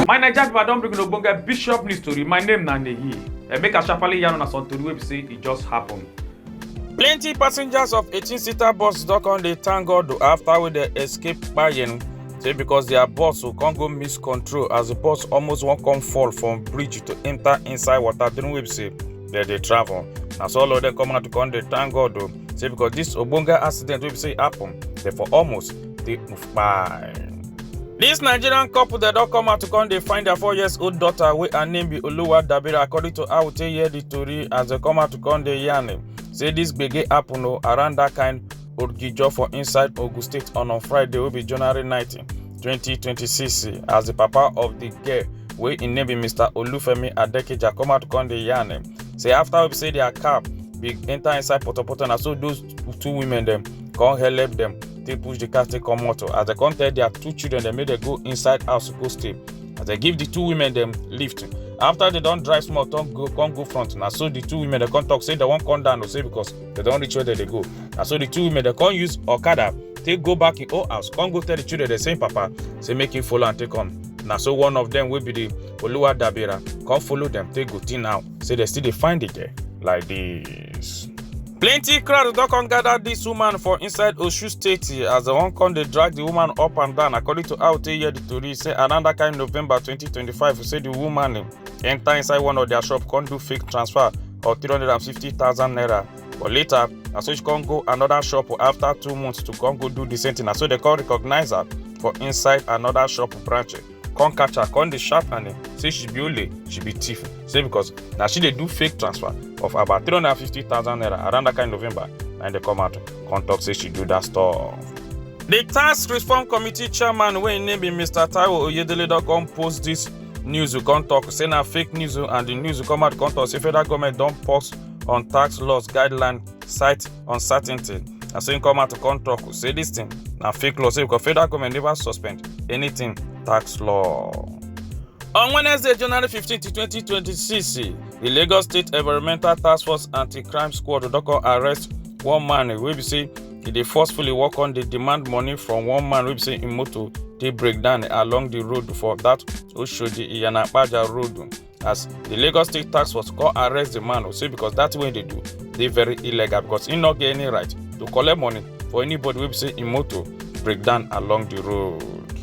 my naija pipo i don bring una ogbonge bishop news tori my name na nehi and make i sharparly yarn una some tori wey be say e just happen. plenty passengers of 18 seater bus don come dey thank god o after wey dem escape kpayen say because their bus o come go miss control as the bus almost wan come fall from bridge to enter inside water during wey be say dem dey travel na so all of dem come out to come dey thank god o say because this ogbonge accident wey be say happen dey for almost dey kpai. This Nigerian couple dem don come out to come dey find their four years old daughter wey her name be Oluwa Dabira according to how we take hear the tori as dem come out to come dey yarn say this gbege happen o around that kind Odgijo for inside Ogun State on on Friday wey be January 19, 2026 as the papa of the girl wey im name be Mr. Olufemi Adekeja come out come dey yarn am say after we say their car be enter inside potopoto na so those two women dem come help dem take push the car take comot as dem come tell their two children dem make dem go inside house go stay as dem give the two women dem lift after dem don drive small come go come go front na so the two women dem come talk say dem wan come down o say because dem don reach where dem dey go na so the two women dem come use okada take go back im own house come go tell the children dem say im papa say make im follow am take come na so one of dem wey be the oluwa dabira come follow dem take go till now say dem still dey find the girl like this. plenty crowd don come gather dis woman for inside osun state as dem wan come dey drag di woman up and down according to how we take hear di tori say around dat kain november 2025 say di woman enter inside one of their shop come do fake transfer of 350,000 naira but later na so she come go another shop after two months to come go do the same thing na so they come recognize her for inside another shop branch come catch her come dey sharp and say she be ole she be thief say because na she dey do fake transfer of about 350,000 naira around that kind of november and they come out come talk say she do that stuff. The tax reform committee chairman wey im name be Mr. Taiwo Oyedele don come post this news you come talk say na fake news o and the news you come out come talk say federal government don pause on tax laws guideline cite uncertainty na so im come out come talk say this thing na fake law say because federal government never suspend anything tax law. On Wednesday, January 15, 2026, the Lagos State Environmental Task Force Anti-Crime Squad don come arrest one man wey be say e dey forcefully work on dey demand money from one man wey be say im motor dey break down along di road for dat oshodi iyanapaja road as di lagos state tax force come arrest di man say because dat thing wey e dey do dey very illegal because im no get any right to collect money for anybody wey be say im motor break down along di road.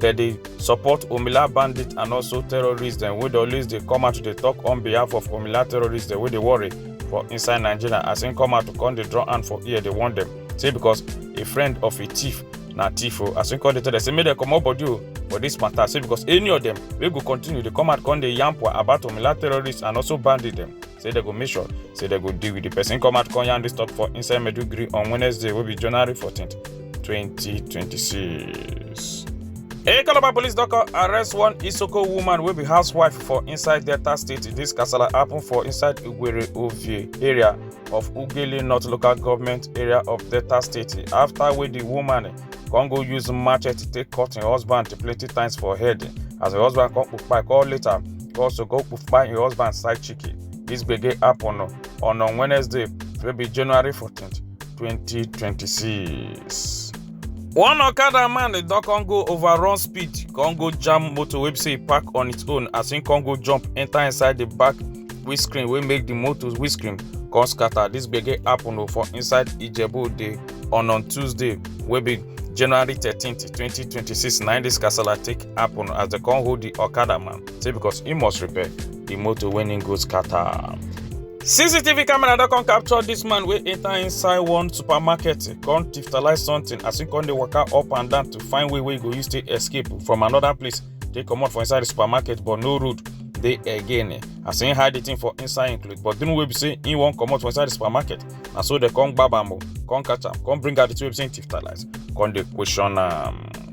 dem dey support omila bandits and also terrorists dem wey dey always dey come out to dey talk on behalf of omila terrorists dem wey dey worry for inside nigeria as im come out to come dey draw hand for ear dey warn dem say because a friend of a thief na thief o as im come dey tell dem say make dem comot body o for dis matter say because any of dem wey go continue dey come out come dey yarn pwa about omila terrorists and also bandits dem say dem go make sure say dem go deal with di person come out come yarn dis talk for inside maiduguri on wednesday wey be january 14 2026. A Calabar police don come arrest one Isoko woman wey be housewife for inside Delta State. This kasala happen for inside Ugwere Ovie area of Ugele North Local Government area of Delta State after wey the woman come go use machete take cut im husband plenty times for head as im husband come kpai call later come also go kpai im husband side chick. This gbege happen on on Wednesday wey be January 14th 2026. one okada man don come go overrun speed come go jam motor wey be say e park on its own as him come go jump enter inside the back windscreen wey make the motor windscreen come scatter this gbege happen o for inside ijebu ode on on tuesday wey be january thirteen twenty twenty six na im this kasala take happen as dem come hold the okada man say because he must repair the motor wey him go scatter. cctv camera don come capture dis man wey enter inside one supermarket come tiftalize something as he come dey waka up and down to find way wey he go use take escape from another place take comot for inside the supermarket but no road dey again as he hide the thing for inside him cloth but the way be say he wan comot for inside the supermarket na so dem come gbab am o come catch am come bring out the two wey be say he tiftalize come dey question am.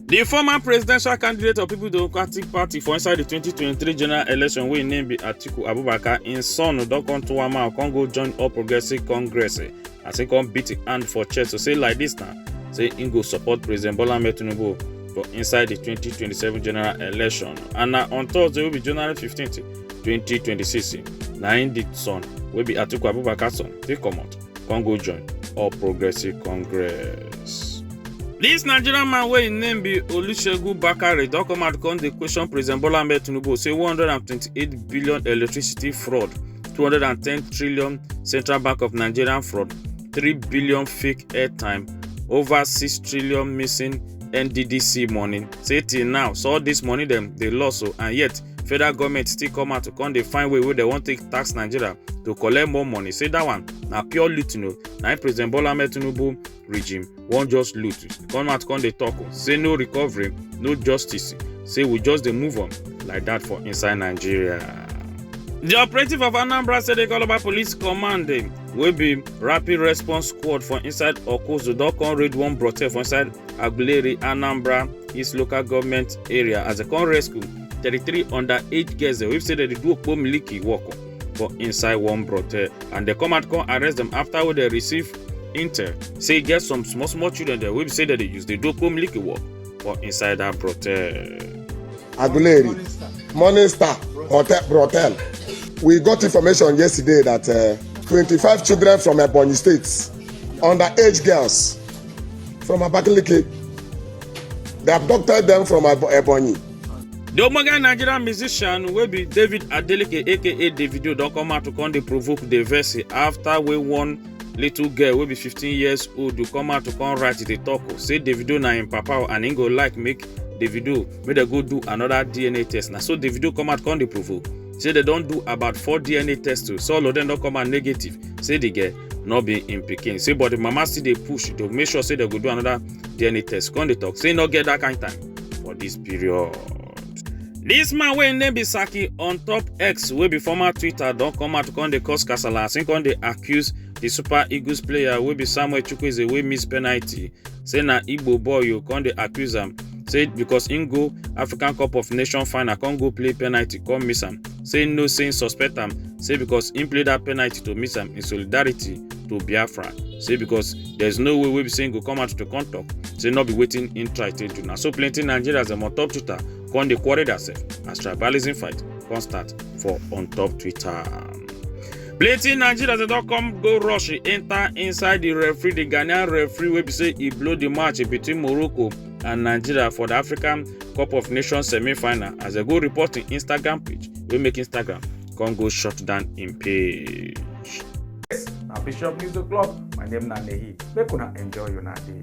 di former presidential candidate of people democratic party for inside di 2023 general election wey im name be atiku abubakar im son don come to one mouth come go join all progressive congress eh, as im come beat im hand for chest to say like dis na say im go support president bola ahmed tinubu for inside di 2027 general election and na on thursday wey be january 15 2026 na im di son wey be atiku abubakar son take comot come go join all progressive congress. dis nigerian man wey im name be olusegun bakare don come out come dey question president bola ahmed tinubu say one hundred and twenty-eight billion electricity fraud two hundred and ten trillion central bank of nigeria fraud three billion fake airtime over six trillion missing nddc money say till now so all dis money dem dey loss o and yet federal goment still come out to come dey find way wey dem wan take tax nigeria to collect more money say dat one na pure looting o na im president bola ahmed tinubu regime wan just loot come out come dey tok say no recovery no justice say we just dey move on like dat for inside nigeria. di operative of anambra state calabar police command wey be rapid response squad for inside okozo don come raid one brothel for inside Aguleri, Anambra East Local Government Area as a con rescue 33 underage girls wey say dem dey do okpo miliki work for inside one brothel and dem come out come arrest dem after wey dem receive intel say e get some small small children dem wey be say dem dey use dey do okpo miliki work for inside that brothel. Aguleri, Morning Star Hotel, Brothel. We got information yesterday that uh, 25 children from Ebonyi State, underage girls, from Abakaliki. They abducted them from Ebonyi. The Omoga Nigerian musician will be David Adeleke aka Davido don come out to come dey provoke the verse after we won little girl will be 15 years old to come out to come write the talk say Davido na him papa and he go like make Davido make they go do another DNA test Now so Davido come out come dey provoke say they don't do about four DNA tests so all of them don't come out negative say the girl no be im pikin say but di mama still dey push to make sure say dem go do another dna test come dey talk say no get that kind time for dis period. Dis man wey im name be Saki on top X wey be former Twitter don come out come dey cause kasala as im come dey accuse di Super Eagles player wey be Samuel Chukwueze wey miss penalty say na igbo boy o come dey accuse am say because im go african cup of nations final come go play penalty come miss am say no say im suspect am say because im play dat penalty to miss am in solidarity to biafra say because there is no way wey be say im go come out to come tok say no be wetin im try take do na so plenty nigerians dem on top twitter come dey quarrel theirself as tribalism fight come start for on top twitter. plenty nigerians dey don come go rush enter inside di referee di ghanaian referee wey be say e blow di match between morocco and nigeria for di african cup of nations semi-final as dem go report im instagram page wey make instagram come go shut down im page. Yes, na Bishop News O'Clock. My name na Nehi. Make una enjoy una day.